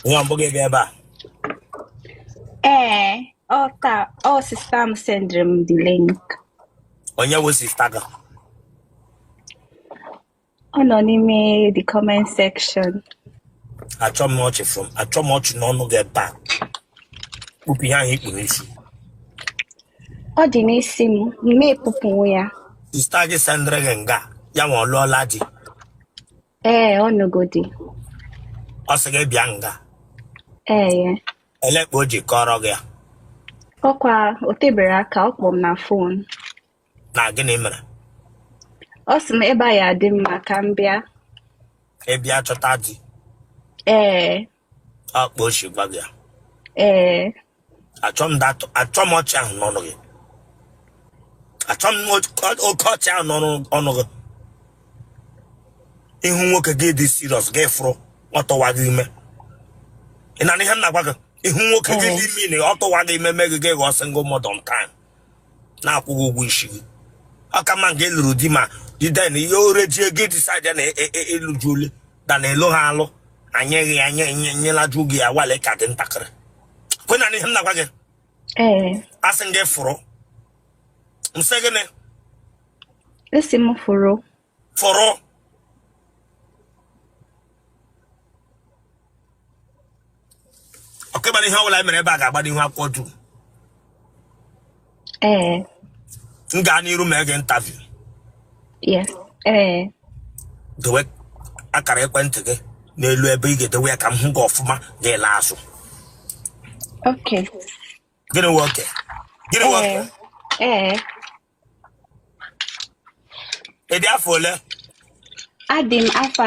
Ọ wụ mbụ gị bịa ebe a. Ee, ọ taa, ọ sista m sendịrị m the link. Onye wụ sista gị? Ọ nọ n'ime the comment section. Achọ m ọchị from achọ m ọchị n'ọnụ gị ebe a. Kpupụ ihe ahụ i kpuru isi. Ọ dị n'isi m, m ekpupụwo ya. Sista gị sendịrị gị nga ya nwa ọ lụọla di. ee ọ nụgo di ọ sị gị bịa nga ee elee kpa o ji kọọrọ gị ya ọkwa o tebero aka ọ kpọ m na fon na gịnị mere ọ sị m ebe a ya-adị mma ka m bịa ị bịa chọta di ee ọ kpa o shi gwa gị ya ee achọ m dat- achọ m ọchị ahụ n'ọnụ gị achọ m oke oke ọchị ahụ n'ọnụ ọnụ gị ị hụ nwoke gị adị siriọs gị fụrụ ọ tụwa gị ime ị na-anụ ihe m na-agwa gị ị hụ nwoke gị adị mean ọ tụwa gị ime mee gị gị ghọọ single mother on time na-akwụghị ụgwọ isi gị ọ ka mma nga ị lụrụ di ma diden ihe ore ji ego disaidi na ịlụju ole da na elu ha alụ anyeghị ya nye nye nyelaju gị ya wale ka dị ntakịrị ị na-anụ ihe m na-agwa gị asị m gị fụrụ m sị gịnị ị sị m fụrụ fọrọ ọkwa ị mara ihe ọbụla mere ebe a ga-agbaru ihu akwụkwọ dum ee m gaa n'iru mee gị interview yes ee dowe akara ekwentị gị n'elu ebe ị ga-edowe ya ka m hụ gị ọfụma gị alaa azụ okay gịnị nwoke gịnị nwoke ee ee Ị dị afọ ole? Adị m afọ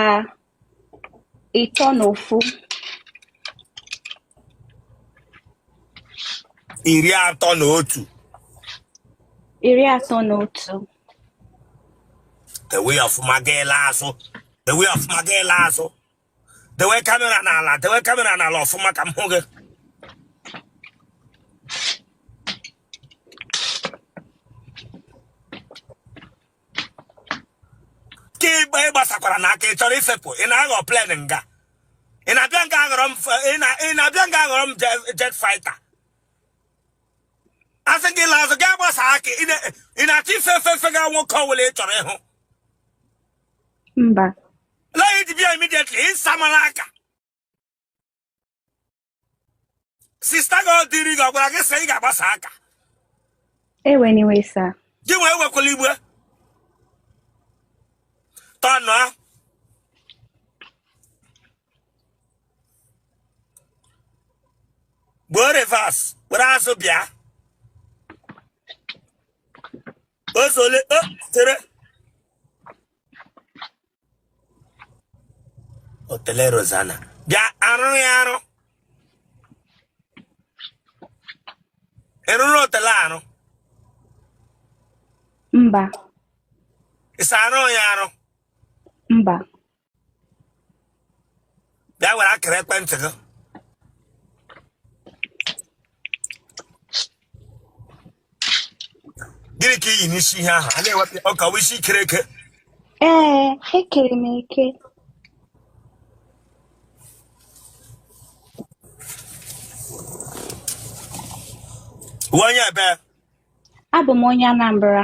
ịtọ na ofu. Iri atọ na otu. Iri atọ na otu. Dewe ọfụma gị alaa azụ. Dewe ọfụma gị alaa azụ. dewe kamera n'ala dewe kamera n'ala ọfụma ka m hụ gị ka ị gba- ị gbasakwara na aka ị chọrọ ifepụ ị na-aghọ plen nga ị na-abịa nga aghọrọ m f- ị na- ị na-abịa nga aghọrọ m je- jet fighter a sị gị laa azụ gị agbasa aka ị na- ị na-achọ ife efe fega nwoke ọbụla ị chọrọ ịhụ mba na ya ji bịa immediately ị samara aka sista gị ọ dịrị gị ọ gwara gị sị ị ga-agbasa aka ewe n'iwe sa gị wee wekwala igbe tọnụa gbuo reverse were azụ bịa Eze ole eh, chere otele Rosanna bịa arụ ya arụ ị rụrụ otele arụ mba ịsa arụ ya arụ mba bịa were akara ekwentị gị gịnị ka i yi n'isi ihe ahụ a na-ewepụ ọ ka wụ isi i kere eke ee ekere m eke ị wụ onye ebee abụ m onye Anambra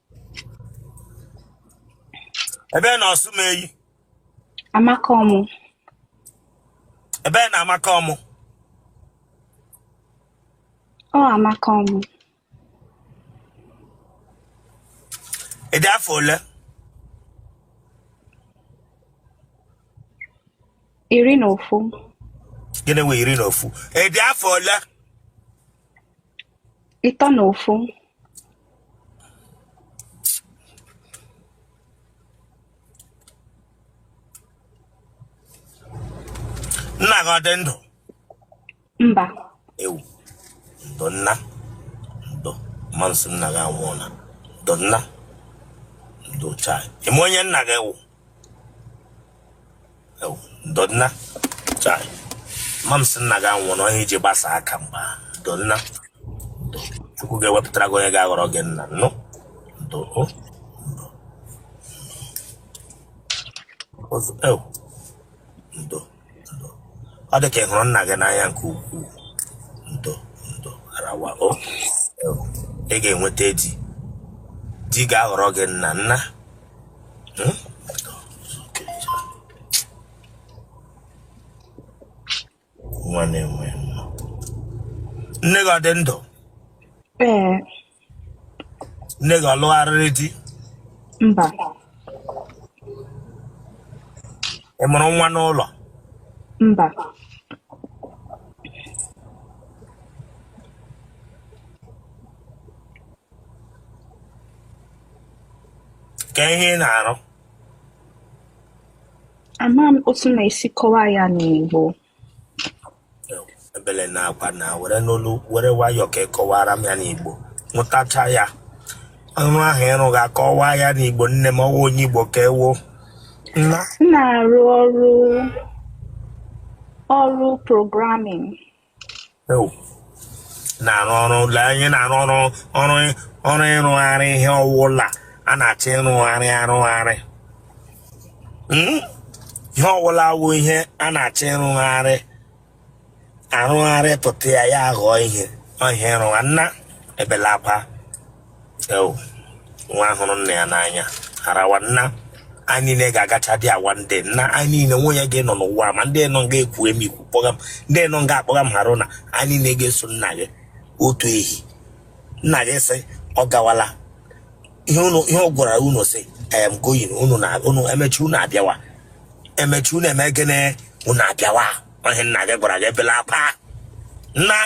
ebe na Osumenyi Amakom ebe na Amakom ọ Amakom ị dị afọ ole iri na ofu gịnị wụ iri na ofu ị dị afọ ole Ịtọ na ofu. Nna gị ọ dị ndụ? Mba. Ewu. Ndo nna. Ndo. Ma m sị nna gị anwụọla. Ndo nna. Ndo chai. Ị ma onye nna gị wụ? ndo nna chai ma m sị nna gị anwụọna ọ ihe i ji gbasa aka mgba ndo nna chukwu ga-ewepụtara gị onye ga-aghọrọ gị nna nụ ndo o Oz- ew. ndo ọ dị ka ị hụrụ nna gị n'anya nke ukwuu ndo ndo arawa o ị ga-enweta di di ga-aghọrọ gị nna nna hmm? nwa na-enwe nne gị ọ dị ndụ nne gị ọ lụgharịrị di mba ị mụrụ nwa n'ụlọ mba ka ihe ị na-arụ ama m otu na-esi kọwaa ya n'Igbo ebele na akwa nna were n'olu were nwayọọ ka ị kọwaara m ya n'igbo mụtacha ya ọrụ ahụ ị rụga kọwaa ya n'igbo nne m ọ wụ onye igbo ka ị wụ nna m na-arụ ọrụ ọrụ programming na-arụ ọrụ lee anyị na-arụ ọrụ ọrụ ọrụ ịrụgharị ihe ọwụla a na-achọ ịrụgharị arụgharị hmm? ihe ọwụla wụ ihe a na-achọ ịrụgharị arụgharị pụta ya ya aghọọ ihe ọ ihe ị rụgha nna ebela akwa nwa hụrụ nna ya n'anya harawa na anyị niile ga-agacha dị awa ndị nna anyị niile nwe onye ga-anọ n'ụwa ma ndị nọ nga ekwu emi ikwu kpọga m ndị nọ nga akpọga m hara na anyị niile ga-eso nna gị otu ehi nna gị sị ọ gawala ihe ọ gwara unu sị I'm going unu na unu emechi unu abịawa emechi unu eme gịnị unu abịawa ihe nna gị gwara gị ebela akwa nna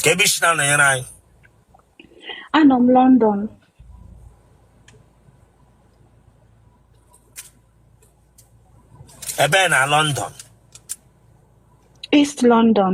kee ebe i si na-anọnyere anyị anọ m London ebe na London East London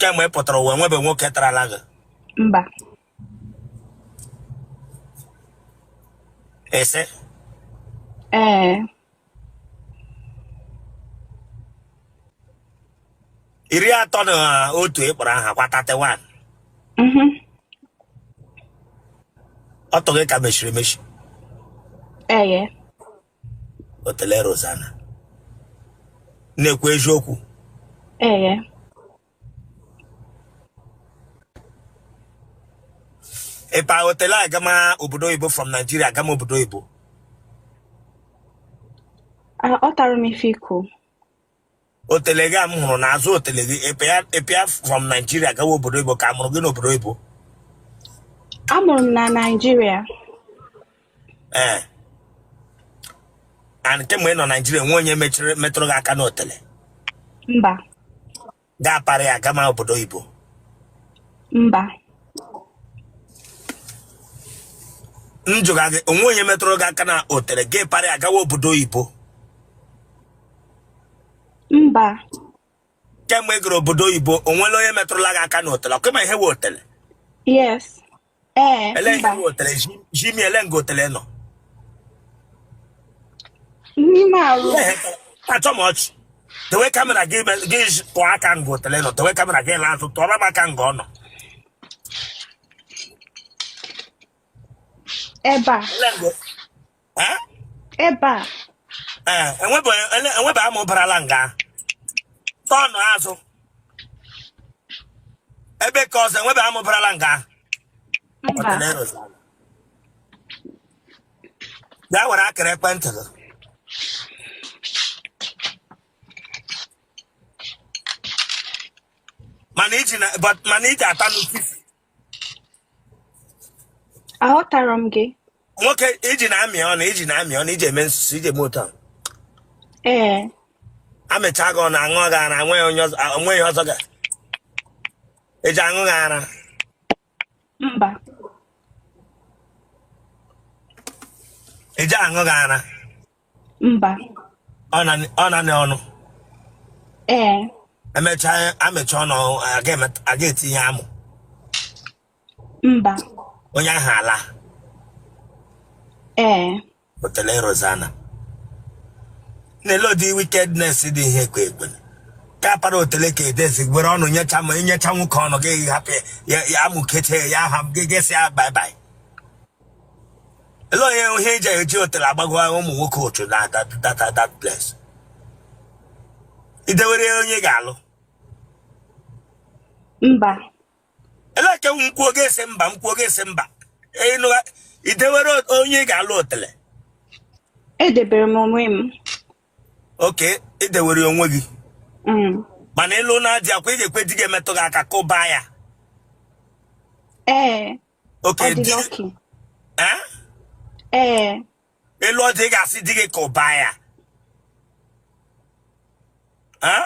kemgbe ị pụtara ụwa nwebe nwoke tarala gị mba ị sị ee iri atọ na otu ị kpọrọ aha kwa 31 mhm ọtụ gị ka mechiri emechi ee otele Rosanna na-ekwu eziokwu ee ịgba otele agama obodo oyibo from Nigeria agama obodo oyibo aghọtara m ife i kwu otele gị a m hụrụ n'azụ otele gị ịpịa- ịpịa from Nigeria gawa obodo oyibo ka a mụrụ gị n'obodo oyibo Amụrụ m na Naịjirịa. ee and kemgbe ị nọ Naịjirịa o nwe onye mechiri metụrụ gị aka n'otele Mba, gị apara ya gama obodo oyibo mba, m jụga gị o nwe onye metụrụ gị aka na otele gị apara ya gawa obodo oyibo mba kemgbe ị gara obodo oyibo o nwere onye metụrụla gị aka n'otele ọ kwa ị ma ihe wụ otele yes ee ele ihe mba wụ otele zi- zi m ele nga otele nọ n'ime arụ Ele ihe ka- achọ m ọchị dewe kamera gị me- gị ji- tụọ aka nga otele nọ dewe kamera gị laa azụ tụọrọ m aka nga ọ nọ ebe a Ele nga- Eh? ebe a Eh, enwebe ele- enwebe amụ barala nga ọnụ azụ ebe ka ọzọ enwebe amụ barala nga mba bịa were akara ekwentị gị mana iji na but mana iji ata n'ofisi aghọtara m gị nwoke i ji na-amị ọnụ i ji na-amị ọnụ i ji eme nsusu i ji eme ụtọ ee a mịcha gị ọnụ aṅụ gị ara nweghị onye ọzọ a- nweghị ọzọ ga eji aṅụ gị ara mba eji aṅụ gị ara mba Ọ na- ọ nanị ọnụ ee emechaa amecha ọnụ a ga-emet- a ga-etinye amụ mba onye ahụ alaa ee otele Rozana na-ele ụdị wickedness dị ihe ekwe ekwe ka para otele ka edezi gwere ọnụ nyecha ma i nyecha nwoke ọnụ gị hapụ ya ya amịkete ya ahụ gị gị sị ya bye bye ele onye ihe i ji eji otele agbago ụmụ nwoke otu na that that that place i dewere onye ị ga-alụ mba ele ka m kwuo gị asị mba m kwuo gị asị mba ịnụ i dewere onye ị ga-alụ otele edebere m onwe m okay i dewere onwe gị Mm. mana ị lụna di ọ kwa ị ga-ekwe di gị emetụ gị aka kụba ya ee Okay, di gị. Eh? Eh. Ele otu ị ga-asị di gị kụbaa ya. Eh?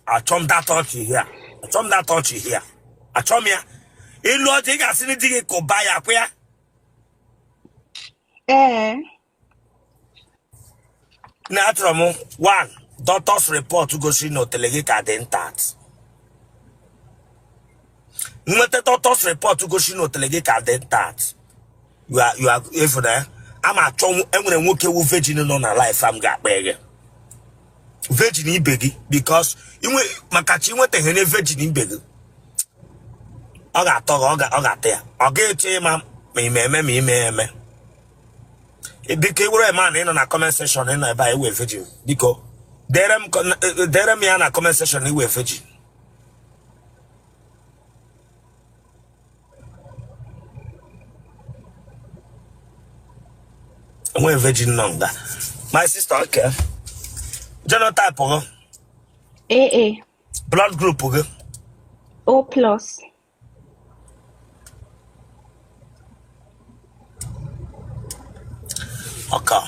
Achọ m that touch here. Achọ m that touch here. Achọ m ya. Ele otu ị ga-asị di gị kụbaa ya kwa ya. Eh. na achọrọ m one doctor's report gosiri na otele gị ka dị intact nweta doctor's report gosiri na otele gị ka dị intact you are you are efu na ya a ma achọ nwo- enwere nwoke wu virgin nọ na life a m ga-akpa gị virgin ibe gị because inwe maka chi nwetaghị na virgin ibe gị ọ ga-atọ gị ọ ga- ọ ga-ata ya ọ ga-eche ịma ma ime eme ma ime eme biko ị wụrụ man nọ na comment section ị nọ ebe a ị wụ virgin biko deere m ya na comment section ị wụ virgin enweghị virgin nọ nga my sister okay genotype gị AA blood group gị O plus ọ ka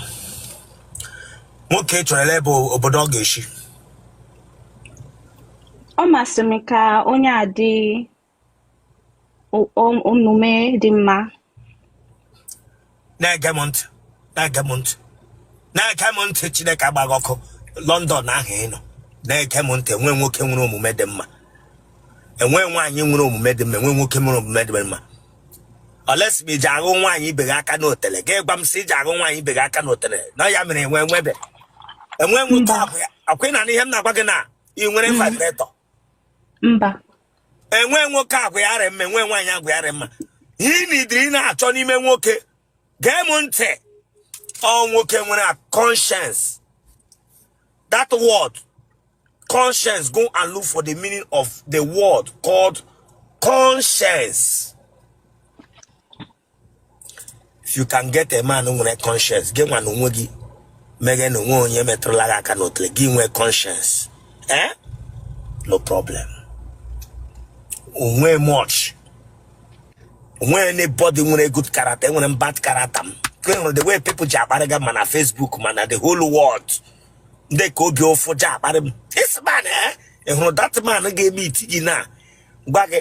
nwoke chọrọ ele ebe obodo ọ ga-eshi ọ masị m ka onye a dị o- o- omume dị mma na-ege m ntị na-ege m ntị na-ege m ntị chineke agba gị ọkụ london ahụ ị nọ na-ege m ntị enwe nwoke nwere omume dị mma enwe nwaanyị nwere omume dị mma enwe nwoke nwere omume dị mma olesi ma i ji aghụ nwaanyị ibe gị aka n'otele gị gwa m sị i ji aghụ nwaanyị ibe gị aka n'otele na ya mere enwe enwebe enwe nwoke abụ ya akwụna na ihe m na-agwa gị na ị nwere vibrator mba enwe nwoke agwa ya rị mma enwe nwaanyị agwa ya rị mma ihe ị needịrị ịna-achọ n'ime nwoke gee m ntị ọ nwoke nwere a conscience that word conscience go and look for the meaning of the word called conscience if you can get a man nwere conscience gị nwa na onwe gị ma gị na onwe gị onye metụrụla gị aka n'otele gị nwee conscience eh no problem o nwe much o nwe anybody nwere good character enwere m bad character m ị hụrụ the way people ji akparịga ma na Facebook ma na the whole world ndị ka obi ụfụ ji akparị m this man eh ị hụrụ that man ga-eme iti gị na gwa gị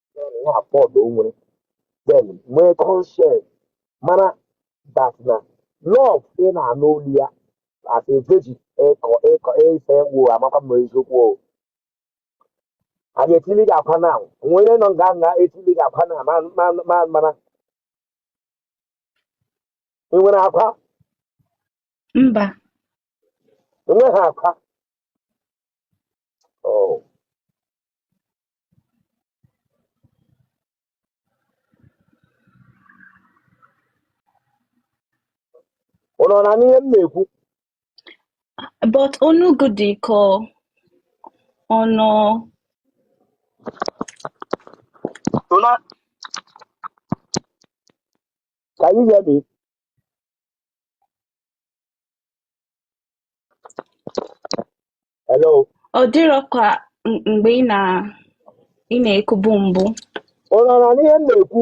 na afọdụ o nwere then nwee conscience mara bata na love ị na-anụ olu ya as a virgin ịkọ ịkọ ife wo amakwa m eziokwu o a ga-etili gị akwa na nwere nọ nga nga etili gị akwa na ma ma ma mara ị nwere akwa mba enweghị akwa Oh. ụnụ ọ na-anụ ihe m na-ekwu but onu gị dị ka ọ nọ Tona, can you hear me? Hello. Ọ dịrọ ka m- mgbe ị na ị na-ekwubu mbụ. Ụnụ ọ na-anụ ihe m na-ekwu.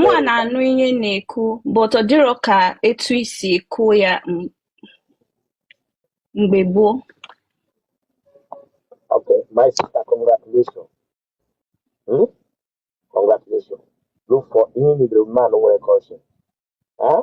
Mụwa na-anụ ihe ị na-ekwu, but ọ dịrọ ka etu i si ekwu ya m- mgbe gboo. Okay, my sister, congratulations. Hmm? Congratulations. Look for ihe nidere mmanụ nwere cushion. Eh?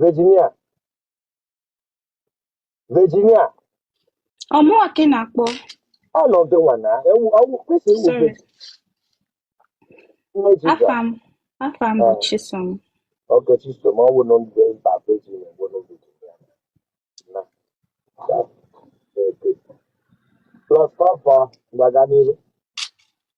Virginia Virginia ọ mụwa ka ị na-akpọ ọnọdụ nwa na ewu ọwụ kwesị iwu Sorry. Virginia nne Jizọs afa m afa m bụ Ah. Chisom okay Chisom ọ wụ nọ ndị mba Virginia bụ nọ Virginia na plus papa gbaga n'ihu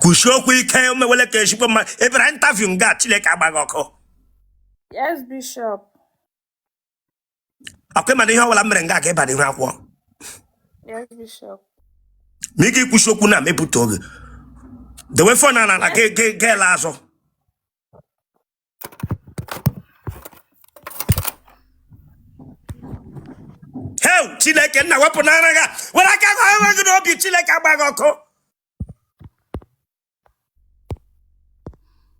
kwusie okwu ike omewele ka echikwe mma emere interview nga chineke agba gị ọkụ Yes, Bishop. akwa ị ma na ihe ọbụla m mere nga aga ịba n'ihu akwụkwọ Yes, Bishop. ma ị ga-ekwusi okwu na mepụta oge dewe phone a n'ala gị ele azụ heu chineke nna wepụ n'ara gị a. were aka gị onwe gị n'obi chineke agba gị ọkụ